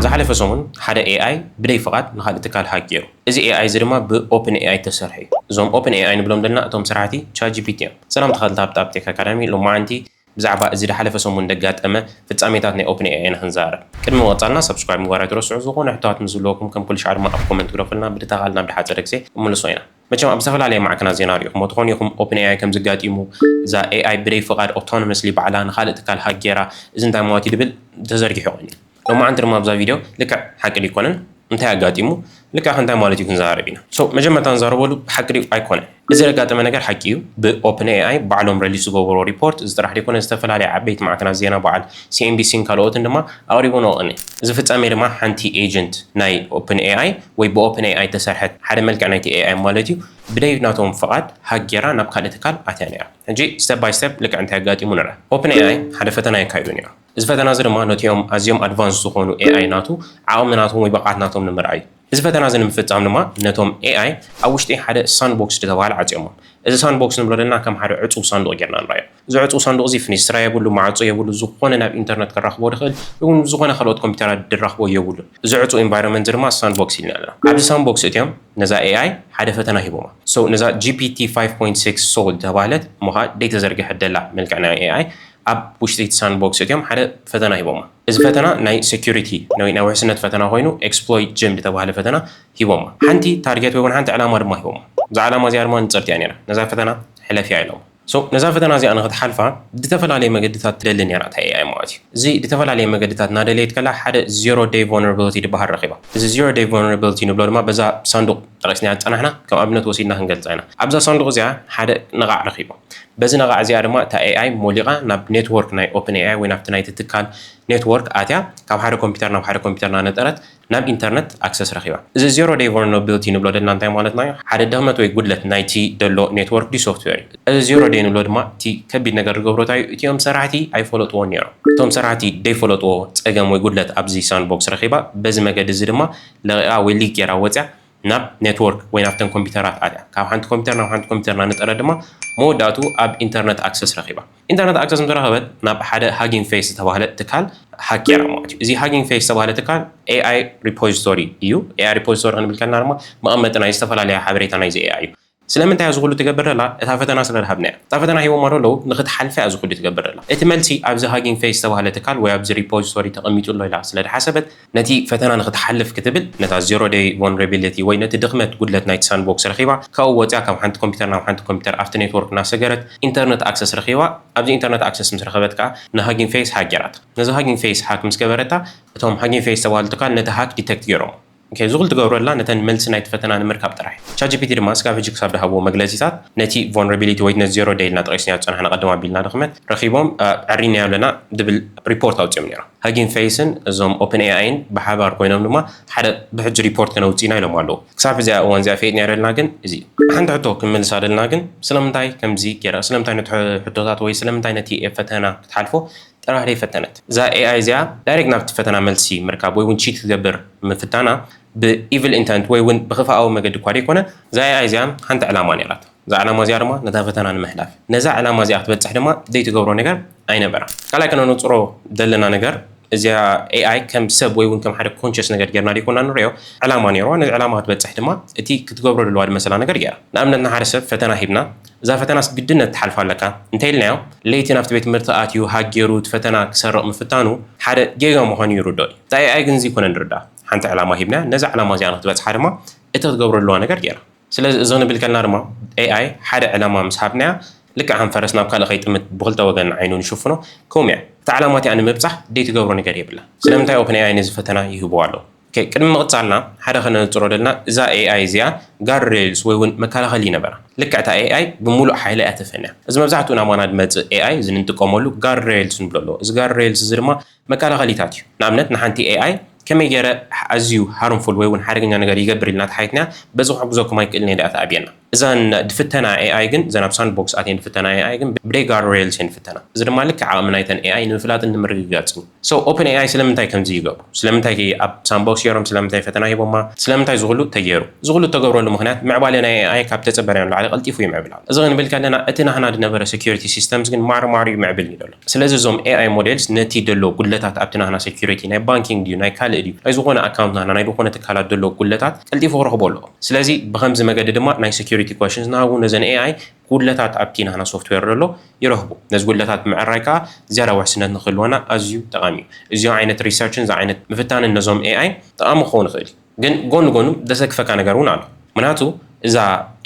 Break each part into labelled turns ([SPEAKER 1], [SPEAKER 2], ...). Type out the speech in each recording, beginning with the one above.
[SPEAKER 1] ዝሓለፈ ሰሙን ሓደ ኤኣይ ብደይ ፍቓድ ንኻልእ ትካል ሃክ ጌሩ። እዚ ኤኣይ እዚ ድማ ብ ኦፕን ኤኣይ እተሰርሐ እዩ። እዞም ኦፕን ኤኣይ ንብሎም ዘለና እቶም ስራሕቲ ቻት ጂፒቲ እዮም። ሰላም ተኸታተልቲ ኣፕ ቴክ ኣካዳሚ ሎማዓንቲ ብዛዕባ እዚ ድሓለፈ ሰሙን ደጋጠመ ፍጻሜታት ናይ ኦፕን ኤኣይ ኢና ክንዛረብ። ቅድሚ ምቕጻልና ሳብስክራይብ ምግባር ኣይትረስዑ ዝኾነ ሕቶታት ምስ ዝህልወኩም ከም ኩልሻዕ ድማ ኣብ ኮመንት ግደፉልና ብድታ ቃል ናብ ድሓጸረ ግዜ ክንምልሶ ኢና። መቸም ኣብ ዝተፈላለየ ማዕከናት ዜና ሪእኹሞ ትኾኑ ኢኹም ኦፕን ኤኣይ ከምዚ ኣጋጢሙ እዛ ኤኣይ ብደይ ፍቓድ ኦቶኖመስሊ ባዕላ ንኻልእ ትካል ሃክ ጌራ እዚ እንታይ ማለትዩ ድብል ተዘርጊሑ ቀንዩ። ሎማዓንቲ ድማ ኣብዛ ቪድዮ ልክዕ ሓቂ ድዩ ኣይኮነን እንታይ ኣጋጢሙ ልክዕ ከ እንታይ ማለት እዩ ክንዛረብ ኢና so መጀመርታ ንዛረበሉ ሓቂ ድዩ ኣይኮነን እዚ ዘጋጠመ ነገር ሓቂ እዩ ብ ኦፕን ኤኣይ ባዕሎም ረሊስ ዝገበርዎ ሪፖርት እዚ ጥራሕ ደይኮነ ዝተፈላለያ ዓበይቲ ማዕከናት ዜና በዓል ሲኤንቢሲ ን ካልኦትን ድማ ኣቅሪብንኦ ቅኒ እዚ ፍጻሜ ድማ ሓንቲ ኤጀንት ናይ ኦፕን ኤኣይ ወይ ብ ኦፕን ኤኣይ እተሰርሐት ሓደ መልክዕ ናይቲ ኤኣይ ማለት እዩ ብደይ ናቶም ፍቃድ ሃክ ጌራ ናብ ካልእ ትካል ኣትያ ኔራ ሕጂ step by step ልክዕ እንታይ ኣጋጢሙ ንርኣ ኦፕን ኤኣይ ሓደ ፈተና የካይዱ ኔሮም እዚ ፈተና እዚ ድማ ነቲኦም ኣዝዮም ኣድቫንስድ ዝኾኑ ኤኣይ ናቱ ዓቕሚ ናቶም ወይ ብቕዓት ናቶም ንምርኣይ እዩ። እዚ ፈተና እዚ ንምፍጻም ድማ ነቶም ኤኣይ ኣብ ውሽጢ ሓደ ሳንድቦክስ ዝተባህለ ዓጽዮሞም። እዚ ሳንድቦክስ ንብሎ ዘለና ከም ሓደ ዕጹው ሳንዱቕ ጌርና ንርኣዮ። እዚ ዕጹው ሳንዱቕ እዚ ፍኒስትራ የብሉ፣ ማዕጾ የብሉ፣ ዝኾነ ናብ ኢንተርነት ከራኽቦ ድኽእል ይኹን ምስ ዝኾነ ካልኦት ኮምፒተራት ድራኽቦ የብሉን። እዚ ዕጹው ኢንቫይሮመንት እዚ ድማ ሳንድቦክስ ኢልና ኣለና። ኣብዚ ሳንድቦክስ እቲኦም ነዛ ኤኣይ ሓደ ፈተና ሂቦማ። ሶ ነዛ ጂፒቲ ፋይቭ ፖይንት ሲክስ ሶል ዝተባህለት እሞ ከኣ ደይተዘርገሐት ደላ መልክዕ ናይ ኤኣይ ኣብ ውሽጢ እቲ ሳንድቦክስ እትዮም ሓደ ፈተና ሂቦማ። እዚ ፈተና ናይ ሰኩሪቲ ወይ ናይ ውሕስነት ፈተና ኮይኑ ኤክስፕሎይት ጅም ዝተባህለ ፈተና ሂቦማ። ሓንቲ ታርጌት ወይ ውን ሓንቲ ዕላማ ድማ ሂቦማ። እዛ ዕላማ እዚኣ ድማ ንጽርቲ እያ ኔራ። ነዛ ፈተና ሕለፍያ ኢሎማ። So ነዛ ፈተና እዚኣ ንኽትሓልፋ ድተፈላለየ መገድታት ትደሊ ኔራ እታ AI ማለት እዩ። እዚ ድተፈላለየ መገድታት እናደለየት ከላ ሓደ Zero Day Vulnerability ድበሃል ረኺባ። እዚ Zero Day Vulnerability ንብሎ ድማ በዛ ሳንዱቕ ጠቒስናያ ዝጸናሕና ከም ኣብነት ወሲድና ክንገልጻ ኢና። ኣብዛ ሳንዱቕ እዚኣ ሓደ ነቓዕ ረኺባ። በዚ ነቓዕ እዚኣ ድማ እታ ኤኣይ ሞሊቓ ናብ ኔትዎርክ ናይ ኦፕን ኤኣይ ወይ ናብቲ ናይቲ ትካል ኔትዎርክ ኣትያ ካብ ሓደ ኮምፒተር ናብ ሓደ ኮምፒተር እናነጠረት ናብ ኢንተርነት ኣክሰስ ረኺባ። እዚ ዜሮ ደይ ቮልነርቢልቲ ንብሎ ደልና እንታይ ማለትና እዩ? ሓደ ድኽመት ወይ ጉድለት ናይቲ ደሎ ኔትዎርክ ድዩ ሶፍትዌር እዩ። እዚ ዜሮ ደይ ንብሎ ድማ እቲ ከቢድ ነገር ዝገብሮ እንታይ እዩ? እቲኦም ሰራሕቲ ኣይፈለጥዎን ነይሮም። እቶም ሰራሕቲ ደይፈለጥዎ ጸገም ወይ ጉድለት ኣብዚ ሳንድቦክስ ረኺባ። በዚ መገዲ እዚ ድማ ለቒቓ ወይ ሊክ ገይራ ወጺኣ ናብ ኔትዎርክ ወይ ናብተን ኮምፒተራት ኣትያ ካብ ሓንቲ ኮምፒተር ናብ ሓንቲ ኮምፒተር ናነጠረት ድማ መወዳእቱ ኣብ ኢንተርነት ኣክሰስ ረኺባ። ኢንተርነት ኣክሰስ ምስ ረኸበት ናብ ሓደ ሃጊንግ ፌስ ዝተባህለ ትካል ሃክ ገይራ ማለት እዩ። እዚ ሃጊንግ ፌስ ዝተባህለ ትካል ኤኣይ ሪፖዚቶሪ እዩ። ኤኣይ ሪፖዚቶሪ ክንብል ከለና ድማ መቐመጢ ናይ ዝተፈላለያ ሓበሬታ ናይዚ ኤኣይ እዩ። ስለምንታይ እዚ ኩሉ ትገብር ዘላ እታ ፈተና ስለ ዝሃብናያ እታ ፈተና ሂቦማ ዶ ኣለዉ ንክትሓልፍያ እዚ ኩሉ ትገብር ዘላ እቲ መልሲ ኣብዚ ሃጊንግ ፌስ ዝተባህለ ትካል ወይ ኣብዚ ሪፖዚቶሪ ተቀሚጡ ኣሎ ኢላ ስለ ዝሓሰበት ነቲ ፈተና ንክትሓልፍ ክትብል ነታ ዜሮ ደይ ቮልነረቢሊቲ ወይ ነቲ ድክመት ጉድለት ናይቲ ሳንድቦክስ ረኪባ ካብኡ ወጽያ ካብ ሓንቲ ኮምፒተር ናብ ሓንቲ ኮምፒተር ኣብቲ ኔትዎርክ እናሰገረት ኢንተርነት ኣክሰስ ረኪባ ኣብዚ ኢንተርነት ኣክሰስ ምስ ረከበት ከኣ ንሃጊንግ ፌስ ሃክ ጌራታ ነዛ ሃጊንግ ፌስ ሃክ ምስ ገበረታ እቶም ሃጊንግ ፌስ ዝተባህሉ ትካል ነቲ ሃክ ዲተክት ጌሮሞ ኦኬ እዚ ኩሉ ትገብረላ ነተን መልሲ ናይቲ ፈተና ንምርካብ ጥራሕ እዩ። ቻትጂፒቲ ድማ ስጋብ ህጂ ክሳብ ድሃብዎ መግለጺታት ነቲ ቮልነራቢሊቲ ወይ ነት ዜሮ ደይልና ጠቂስናዮ ዝጸናሕና ቅድም ኣቢልና ድኽመት ረኺቦም ኣዕሪናዮ ኣለና ድብል ሪፖርት ኣውጺኦም ኔሮም። ሀጊንግ ፌይስን እዞም ኦፕን ኤኣይን ብሓባር ኮይኖም ድማ ሓደ ብሕጂ ሪፖርት ከነውጽእ ኢና ኢሎም ኣለዉ። ክሳብ ሕዚኣ እዋን እዚኣ ፌጥ ኔረልና ግን እዚ እዩ። ሓንቲ ሕቶ ክንምልሳ ደልና ግን ስለምንታይ ከምዚ ጌራ ስለምንታይ ነቲ ሕቶታት ወይ ስለምንታይ ነቲ ፈተና ክትሓልፎ ጥራሕ ደይፈተነት እዛ AI እዚኣ ዳይሬክት ናብቲ ፈተና መልሲ ምርካብ ወይ ውን ቺት ክትገብር ምፍታና ብ ኢቭል ኢንተንት ወይ ውን ብክፍኣዊ መገዲ እኳ ደይኮነ እዛ AI እዚኣ ሓንቲ ዕላማ ኔራታ እዛ ዕላማ እዚኣ ድማ ነታ ፈተና ንምሕላፍ ነዛ ዕላማ እዚኣ ክትበጽሕ ድማ ዘይትገብሮ ነገር ኣይነበራን ካልኣይ ከነነጽሮ ዘለና ነገር እዚኣ AI ከም ሰብ ወይ ውን ከም ሓደ ኮንሸስ ነገር ጌርና ደይኮና ንርእዮ ዕላማ ኔርዋ ነዚ ዕላማ ክትበጽሕ ድማ እቲ ክትገብሮ ደለዋ ድመሰላ ነገር ጌራ ንኣብነት ንሓደ ሰብ ፈተና ሂብና እዛ ፈተናስ ግድነት ትሓልፋ ኣለካ እንተኢልናዮ፣ ለይቲ ናብቲ ቤት ትምህርቲ ኣትዩ ሃግ ጌሩ እቲ ፈተና ክሰርቕ ምፍታኑ ሓደ ጌጋ ምዃኑ ይርድኦ እዩ። እቲ AI ግን እዚ ኣይኮነን ዝርድኣ። ሓንቲ ዕላማ ሂብናያ፣ ነዛ ዕላማ እዚኣ ንኽትበጽሓ ድማ እቲ ክትገብሮ ዘለዋ ነገር ገይራ። ስለዚ እዚ ክንብል ከለና ድማ AI ሓደ ዕላማ ምስ ሃብናያ ልክዕ ከም ፈረስ ናብ ካልእ ከይጥምት ብኽልተ ወገን ዓይኑ ንሽፍኖ፣ ከምኡ እያ። እታ ዕላማ እቲኣ ንምብጻሕ ዘይትገብሮ ነገር የብላን። ስለምንታይ ኦፕን AI ነዚ ፈተና ይህብዎ ኣለዉ? ኦኬ ቅድሚ ምቕጻልና ሓደ ከነንጽሮ ደልና እዛ AI እዚኣ ጋርድ ሬልስ ወይ ውን መከላኸሊ ይነበራ ልክዕ እታ AI ብሙሉእ ሓይላ እያ ተፈንያ እዚ መብዛሕትኡ ናባና ድመጽእ AI እዚ ንንጥቀመሉ ጋርድ ሬልስ ንብሎ ኣሎ እዚ ጋርድ ሬልስ እዚ ድማ መከላኸሊታት እዩ ንኣብነት ንሓንቲ AI ከመይ ገይረ ኣዝዩ ሃርምፉል ወይ ውን ሓደገኛ ነገር ይገብር ኢልና ተሓቲትና በዚ ክሕግዘኩም ኣይክእልን እየ ድኣ ተኣብየና እዘን ድፍተና ኤኣይ ግን እዘን ኣብ ሳንድቦክስ ኣትየን ድፍተና ኤኣይ ግን ብደይ ጋርድ ሬይልስ እየን ድፍተና። እዚ ድማ ልክዕ ዓቕሚ ናይተን ኤኣይ ንምፍላጥን ንምርግጋጽን እዩ። ሶ ኦፕን ኤኣይ ስለምንታይ ከምዚ ይገብሩ? ስለምንታይ ኣብ ሳንድቦክስ ጌሮም? ስለምንታይ ፈተና ሂቦማ? ስለምንታይ እዚ ኩሉ ተጌሩ? እዚ ኩሉ እተገብረሉ ምኽንያት ምዕባለ ናይ ኤኣይ ካብ እተጸበናዮ ንላዕሊ ቀልጢፉ ይምዕብል ኣሎ። እዚ ክንብል ከለና እቲ ናህና ድነበረ ሰኩሪቲ ሲስተምስ ግን ማርማር እዩ ምዕብል እዩ ዘሎ። ስለዚ እዞም AI ሞዴልስ ነቲ ደሎ ጉድለታት ኣብቲ ናህና ሰኩሪቲ፣ ናይ ባንኪንግ ድዩ ናይ ካልእ ድዩ፣ ናይ ዝኾነ ኣካውንት ናህና ናይ ድኾነ ትካላት ደሎ ጉድለታት ቀልጢፉ ክረኽቦ ኣለዎ። ስለዚ ብኸምዚ መገዲ ድማ ናይ ሰኩሪቲ ኮሽንስ ናሃቡ ነዘን AI ጉድለታት ኣብቲ ናህና ሶፍትዌር ደሎ ይረኽቡ። ነዚ ጉድለታት ምዕራይ ከኣ ዝያዳ ውሕስነት ንክህልወና ኣዝዩ ጠቓሚ እዩ። እዚ ዓይነት ሪሰርችን እዚ ዓይነት ምፍታንን ነዞም AI ጠቓሚ ክኸውን ይኽእል እዩ። ግን ጎኑ ጎኑ ደሰክፈካ ነገር ውን ኣሎ ምናቱ እዛ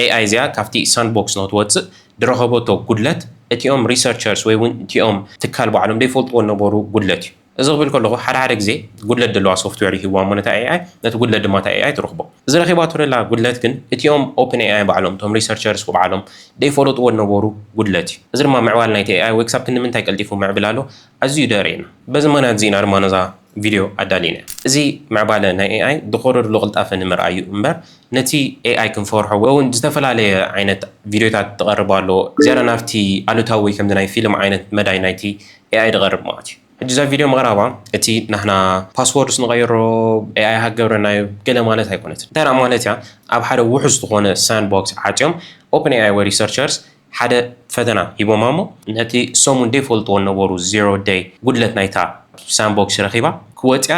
[SPEAKER 1] AI እዚኣ ካብቲ ሳንድቦክስ ነው ትወጽእ ድረኸቦቶ ጉድለት እቲኦም ሪሰርቸርስ ወይ ውን እቲኦም ትካል ባዕሎም ደይፈልጥዎ ነበሩ ጉድለት እዩ እዚ ክብል ከለኹ ሓደ ሓደ ግዜ ጉድለት ደለዋ ሶፍትዌር ይህብዋ እሞ ነታ AI ነቲ ጉድለት ድማ እታ AI ትረኽቦ እዚ ረኺባቶ ደላ ጉድለት ግን እቲኦም ኦፕን AI ባዕሎም እቶም ሪሰርቸርስ ባዕሎም ደይፈለጥዎ ነበሩ ጉድለት እዩ እዚ ድማ ምዕባል ናይቲ AI ወይ ክሳብ ክንዲ ምንታይ ቀልጢፉ ምዕብላሎ ኣዝዩ ደርእየና በዚ ምኽንያት እዚ ኢና ድማ ነዛ ቪድዮ ኣዳሊና። እዚ ምዕባለ ናይ ኤኣይ ብቐሩር ብቕልጣፈ ንምርኣይ እዩ እምበር ነቲ ኤኣይ ክንፈርሖ ወይ ውን ዝተፈላለየ ዓይነት ቪድዮታት ድቐርብ ኣሎ ዝያዳ ናብቲ ኣሉታዊ ወይ ከምዚ ናይ ፊልም ዓይነት መዳይ ናይቲ ኤኣይ ድቐርብ ማለት እዩ። ሕጂ እዛ ቪድዮ ምቕራባ እቲ ናህና ፓስዎርድስ ንቐይሮ ኤኣይ ሃክ ገብረናዮ ገለ ማለት ኣይኮነትን። እንታይ ደኣ ማለት እያ ኣብ ሓደ ውሑስ ዝኾነ ሳንድቦክስ ዓጽዮም ኦፕን ኤኣይ ወይ ሪሰርቸርስ ሓደ ፈተና ሂቦማ እሞ ነቲ ሰሙን ደይፈልጥዎ ነበሩ ዜሮ ደይ ጉድለት ናይታ ሳንቦክስ ረኺባ ክወጽያ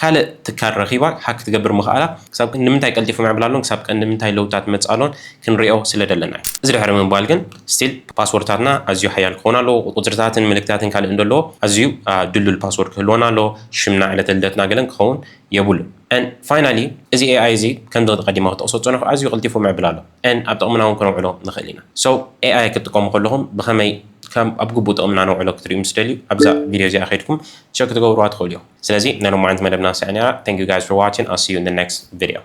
[SPEAKER 1] ካልእ ትካል ረኺባ ሃክ ክትገብር ምኽኣላ ክሳብ ክንድምንታይ ቀልጢፉ ምዕብል ኣሎን ክሳብ ቀንድምንታይ ለውጥታት ምጽእ ኣሎን ክንሪኦ ስለ ደለና እዩ። እዚ ድሕሪ ምባል ግን ስቲል ፓስዎርድታትና ኣዝዩ ሓያል ክኸውን ኣሎዎ ቁጽርታትን ምልክታትን ካልእን ደለዎ ኣዝዩ ድልዱል ፓስዎርድ ክህልወና ኣሎዎ ሽምና ዕለተ ልደትና ገለን ክኸውን የብሉን and finally እዚ AI እዚ ከምዚ ቀዲመ ክጠቕሶ ዝጸነኹ ኣዝዩ ቀልጢፉ ምዕብል ኣሎ። and ኣብ ጥቕምና ውን ክነውዕሎ ንኽእል ኢና። So AI ክትጥቀሙ ከለኹም ብኸመይ ከም ኣብ ግቡእ ጥቕምና ነውዕሎ ክትሪኡ ምስ ትደልዩ ኣብዛ ቪድዮ እዚኣ ከይድኩም ቸክ ክትገብርዋ ትኽእሉ ኢኹም። ስለዚ ናይ ሎማዓንቲ መደብና እዚኣ ኔራ Thank you guys for watching I'll see you in the next video።